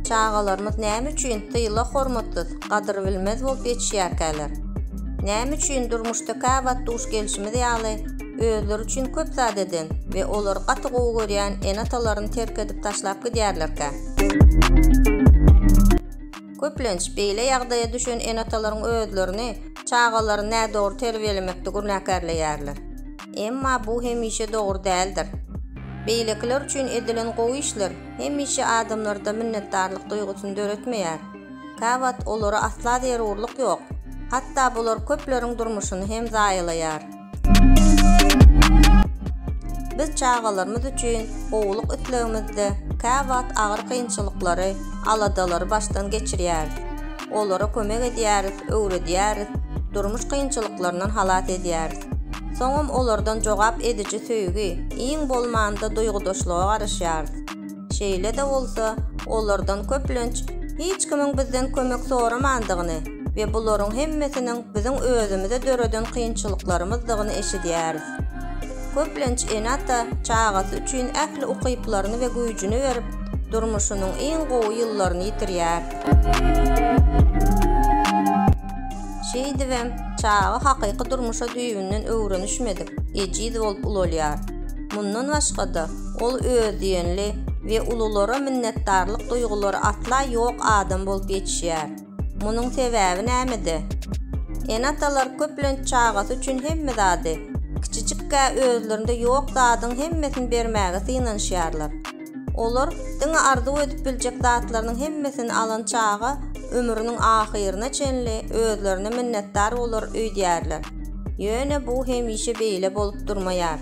Çagalarymyz näme üçin tyla hormatsyz, gadyrbilmez bolup ýetişýärkäler? Näme üçin durmuşda käwagt duş gelşimiz ýaly, özleri üçin köp zat eden we olary gaty gowy görýän ene-atalaryny terk edip taşlap gidýärlerkä? Köplenç, beýle ýagdaýa düşen ene-atalaryň özlerini çagalaryny nädogry terbiýelemekde günäkärleýärler. Emma bu hemişe dogry däldir. Beýlekiler üçin edilen gowy işler hemişe adamlarda minnetdarlyk duýgusyny döretmeýär. Käwagt olara asla zerurlyk ýok, hatda bular köpleriň durmuşyny hem zaýalaýar. Biz çagalarymyz üçin gowulyk islegimizde käwagt agyr kynçylyklary, aladalary başdan geçirýäris. Olara kömek edýäris, öwredýäris, durmuş kynçylyklaryndan halas edýäris. Soňam olardan jogap ediji söýgi, iň bolmanda duýgudaşlyga garaşýarys. Şeýle-de bolsa, olardan köplenç hiç kimiň bizden kömek soramandygyny we bularyň hemmesiniň biziň özümize döreden kynçylyklarymyzdygyny eşidýäris. Köplenç ene-ata çagasy üçin ähli ukyplaryny we güýjüni berip, durmuşynyň iň gowy ýyllaryny ýitirýär. Şeýdibem, çaga hakyky durmuşa düýbünden öwrenişmedik, ejiz bolup ulalýar. Mundan başga-da, ol özdiýenli we ululara minnetdarlyk duýgulary asla ýok adam bolup ýetişýär. Munuň sebäbi nämede? Ene-atalar köplenç çagasy üçin hemme zady, kiçijik-ä özlerinde ýok zadyň hemmesini bermäge synanyşýarlar. Olar diňe arzuw edip biljek zatlarynyň hemmesini alan çaga ömrüniň ahyryna çenli özlerine minnetdar bolar öýdýärler. Ýöne bu hemişe beýle bolup durmaýar.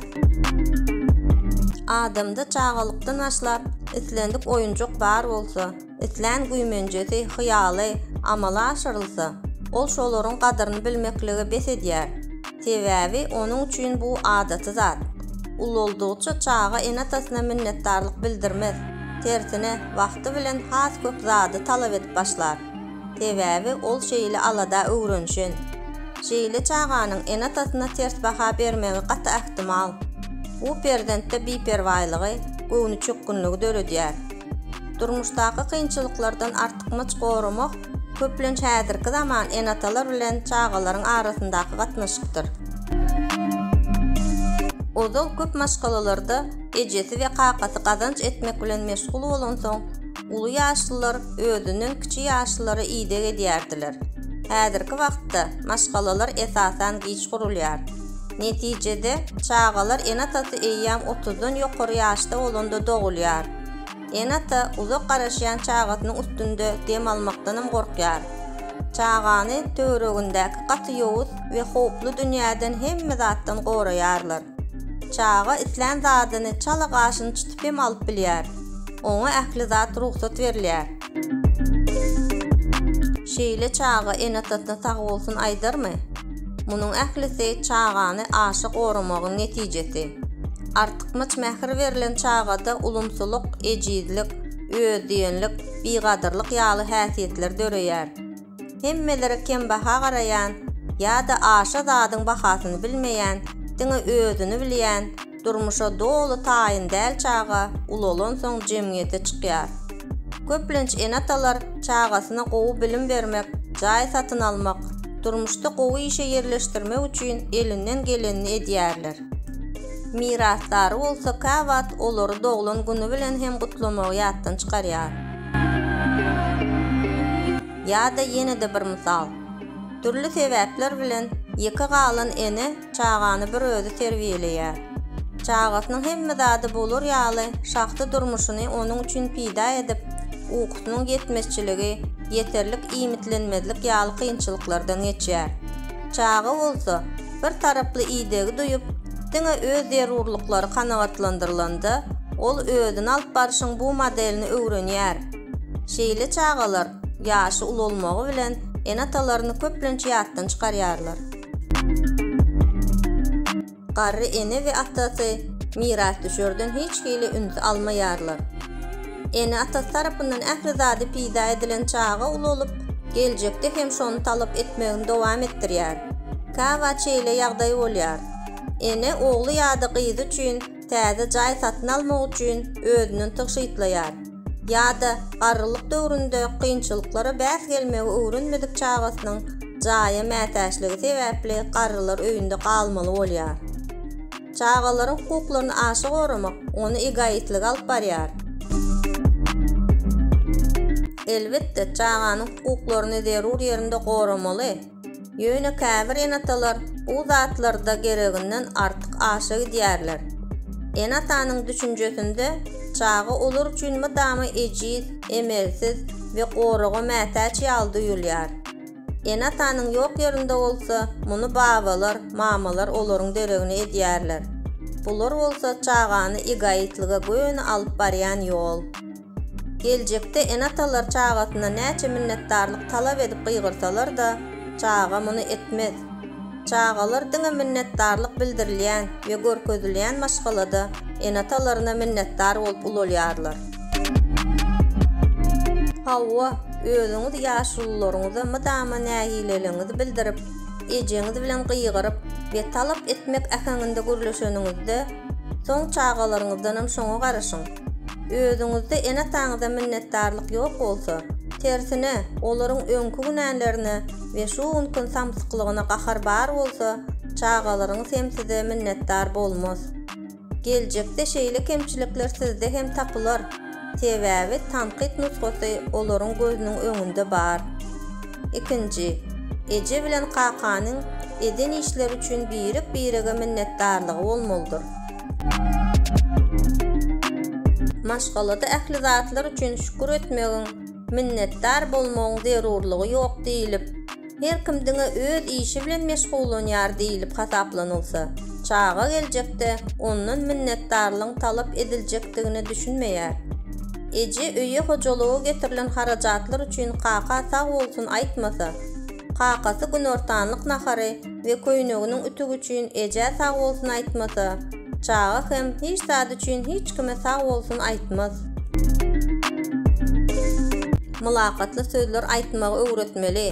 Adamda çagalykdan başlap islendik oýunjak bar bolsa, islän güýmenjesi, hyýaly, amala aşyrylsa, ol şolaryň gadyryny bilmeklige bes edýär. Sebäbi onuň üçin bu adaty zat. Ulaldygyça çaga ene-atasyna minnetdarlyk bildirmez, tersine, wagty bilen has köp zady talap edip başlar. Sebäbi ol şeýle alada öwrenişen. Şeýle çaganyň ene-atasyna ters baha bermegi gaty ähtimal. Bu perzentde biperwaýlygy, göwnüçökgünligi döredýär. Durmuşdaky kynçylyklardan artykmaç goramak köplenç häzirki zaman ene-atalar bilen çagalaryň arasyndaky gatnaşykdyr. Ozal köp maşgalalarda ejesi we kakasy gazanç etmek bilen meşgul bolansoň, uly ýaşlylar özünden kiçi ýaşlylara ideg edýärdiler. Häzirki wagtda maşgalalar esasan giç gurulýar. Netijede, çagalar ene-atasy eýýäm otuzdan ýokary ýaşda bolanda dogulýar. Ene-ata uzak garaşýan çagasynyň üstünde dem almakdanam gorkýar. Çagany töweregindäki gaty ýowuz we howply dünýäden hemme zatdan goraýarlar. Çaga islän zadyny çala gaşyny çytyp hem alyp bilýär. Oňa ähli zat rugsat berilýär. Şeýle çaga ene-atasyna sagbolsun aýdarmy? Munuň ählisi çagany aşa goramagyň netijesi. Artykmaç mähir berlen çagada ulumsylyk, ejizlik, özdiýenlik, bigadyrlyk ýaly häsiýetler döreýär. Hemmelere kembaha garaýan ýa-da aşa zadyň bahasyny bilmeýän, diňe özüni bilýän, durmuşa doly taýyn däl çaga ulalansoň jemgyýete çykýar. Köplenç ene-atalar çagasyna gowy bilim bermek, jaý satyn almak, durmuşda gowy işe ýerleşdirmek üçin elinden gelenini edýärler. Mirasdary bolsa käwagt olary doglan güni bilen hem gutlamagy ýatdan çykarýar. Ýa-da ýene-de bir mysal. Dürli sebäpler bilen ýeke galan ene çagany bir özi terbiýeleýär. Çagasynyň hemme zady bolar ýaly şahsy durmuşyny onuň üçin pida edip, ukusynyň ýetmezçiligi, ýeterlik iýmitlenmezlik ýaly kynçylyklardan geçýär. Çaga bolsa, bir taraply idegi duýup, diňe öz zerurlyklary kanagatlandyrylanda, ol özüni alyp barşyň bu modelini öwrenýär. Şeýle çagalar ýaşy ulalmagy bilen ene-atalaryny köplenç ýatdan çykarýarlar. Garry ene we atasy mirasdüşerden hiç hili üns almaýarlar. Ene-atasy tarapyndan ähli zady peýda edilen çaga ulalyp, geljekde hem şony talap etmegini dowam etdirýär. Käwagt şeýle ýagdaý bolýar. Ene ogly ýa-da gyzy üçin täze jaý satyn almak üçin özünden tygşytlaýar. Ýa-da garrylyk döwründe kynçylyklara bäs gelmegi öwrenmedik çagasynyň jaýa mätäçligi sebäpli garrylar öýünde galmaly bolýar. Çagalaryň hukuklaryny aşa goramak, ony egoistlige alyp barýar. Elbetde, çaganyň hukuklaryny zerur ýerinde goramaly. Ýöne käbir ene-atalar bu zatlarda gereginden artyk aşa gidýärler. Ene-atanyň düşünjesinde çaga olar üçin mydama ejiz, emelsiz we goraga mätäç ýaly duýulýar. Ene-atanyň ýok ýerinde bolsa, muny babalar, mamalar olaryň deregini edýärler. Bular bolsa çagany egoitlige göni alyp barýan ýol. Geljekde ene-atalar çagasyna näçe minnetdarlyk talap edip gygyrsalar-da, çaga muny etmez. Çagalar diňe minnetdarlyk bildirilýän we görkezilýän maşgalada ene-atalaryna minnetdar bolup ulalýarlar. Hawa, özüňiz ýaşulularyňyza mydama nägileligiňizi bildirip, ejeňiz bilen gygyryp we talap etmek äheňinde gürleşeniňizde, soň çagalaryňyzdanam şoňa garaşyň. Özüňizde ene-ataňyza minnetdarlyk ýok bolsa, tersine, olaryň öňki günälerine we şu günkiň samsyklygyna gahar bar bolsa, çagalaryňyz hem size minnetdar bolmaz. Geljekde şeýle kemçilikler sizde hem tapylar, sebäbi tankyt nusgasy olaryň gözüniň öňünde bar. Ikinji, eje bilen kakanyň eden işleri üçin birek-birege minnetdarlygy bolmalydyr. Maşgalada ähli zatlar üçin şükür etmegiň, minnetdar bolmagyň zerurlygy ýok diýlip, her kim diňe öz işi bilen meşgullanýar diýlip hasaplanylsa, çaga geljekde ondan minnetdarlygyň talap ediljekdigine düşünmeýär. Eje öýe hojalyga getirilen harajatlar üçin kaka sag bolsun aýtmasa, Kakasy günortanlyk nahary we köýneginiň ütügi üçin ejä sag bolsun aýtmasa, çaga hem hiç zat üçin hiç kime sag bolsun aýtmaz. Mylakatly sözler aýtmagy öwretmeli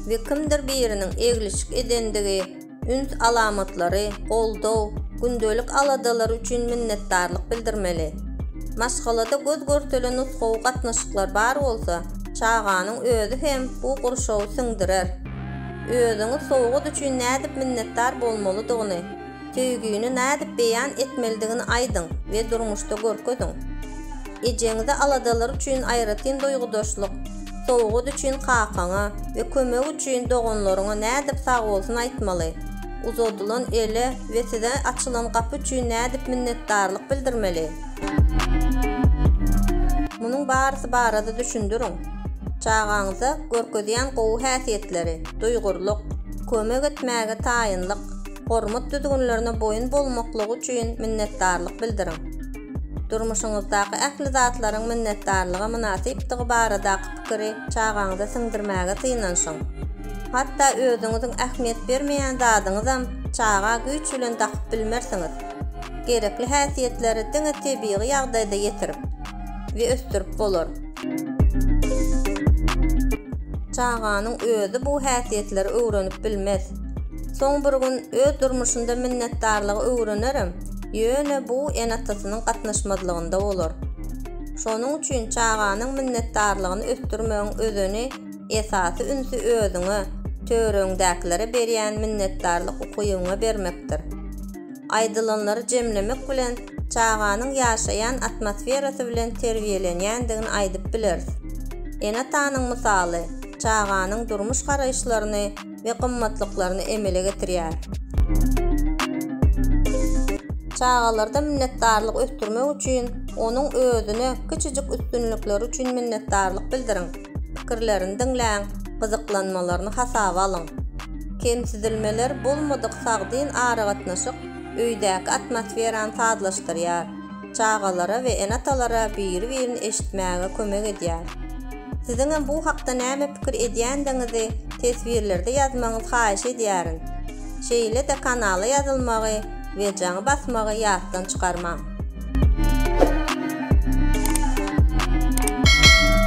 we kimdir biriniň eglişik edendigi, üns alamatlary, goldaw, gündelik aladalary üçin minnetdarlyk bildirmeli. Maşgalada göz görtelen nusgawy gatnaşyklar bar bolsa, çaganyň özi hem bu gurşawy siňdirer. Özüňi sowgat üçin nädip minnetdar bolmalydygyny, söýgini nädip beýan etmelidigini aýdyň we durmuşda görkeziň. Ejeňize aladalary üçin aýratyn duýgudaşlyk, sowgat üçin kakaňa we kömek üçin doganlaryňa nädip sagbolsun aýtmaly? Uzadylan ele we size açylan gapy üçin nädip minnetdarlyk bildirmeli? Munuň barysy barada düşündiriň. Çagaňyza görkezýän gowy häsiýetleri, duýgurlyk, kömek etmäge taýynlyk, hormat düzgünlerine boýun bolmaklygy üçin minnetdarlyk bildiriň. Durmuşyňyzdaky ähli zatlaryň minnetdarlyga mynasypdygy baradaky pikiri çagaňyza siňdirmäge synanyşyň. Hatda özüňiziň ähmiýet bermeýän zadyňyzam çaga güýç bilen dakyp bilmersiňiz. Gerekli häsiýetleri diňe tebigy ýagdaýda ýetirip we ösdürip bolar. Çaganyň özi bu häsiýetleri öwrenip bilmez. Soň bir gün öz durmuşynda minnetdarlygy öwrenerem. Ýöne bu ene-atasynyň gatnaşmazlygynda bolar. Şonuň üçin çaganyň minnetdarlygyny ösdürmegiň özeni esasy ünsi özüňe, töweregiňdäkilere berýän minnetdarlyk ukybyňa bermekdir. Aýdylanlary jemlemek bilen çaganyň ýaşaýan atmosferasy bilen terbiýelenýändigini aýdyp bileris. Ene-atanyň mysaly çaganyň durmuş garaýyşlaryny, we gymmatlyklaryny emele getirýär. Çagalarda minnetdarlyk ösdürmek üçin onuň özüne kiçijik üstünlikleri üçin minnetdarlyk bildiriň, pikirlerini diňläň, gyzyklanmalaryny hasaba alyň. Kemsidilmeler bolmadyk sagdyn aragatnaşyk öýdäki atmosferany sazlaşdyrýar. çagalara we ene-atalara biri-birini eşitmäge kömek edýär. Siziň hem bu hakda näme pikir edýändigiňizi teswirlerde ýazmagyňyzy haýyş edýärin. Şeýle-de kanala ýazylmagy we jaňy basmagy ýatdan çykarmaň.